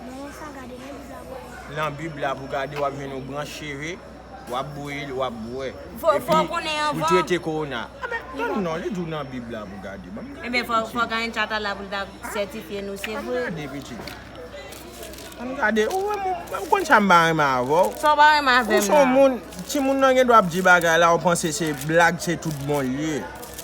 Nan yon sa gade nan bib la pou wè. Nan bib la pou gade wap jwenn yon branch cheve wap bouyi l wap bwè. Epi pou trete kowona. Tann non li di w nan bib la pou gade. Banm gade pitit. Ebyen fok anyen chata la pou l ta sètifye nou se vre. Banm gade pitit. Banm gade ou wè m konn sa m pa renmen avè w. Sa w pa renmen avè m la. Ou son moun timoun nan gen dwa ap di bagay la ou panse se blag se tout bon l ye.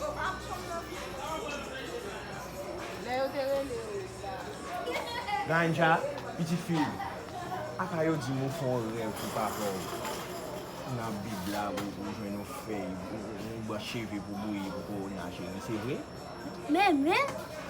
Yo pa konn nan prizon. Lè yo te rele yo la. Naija, pitit fi m. Apa yo di m ou fè yon rèv pou papa w. Nan bib la ou jwenn yon fèy, yon branch cheve pou bouyi pou kowona cheri. Se vre? Nènè,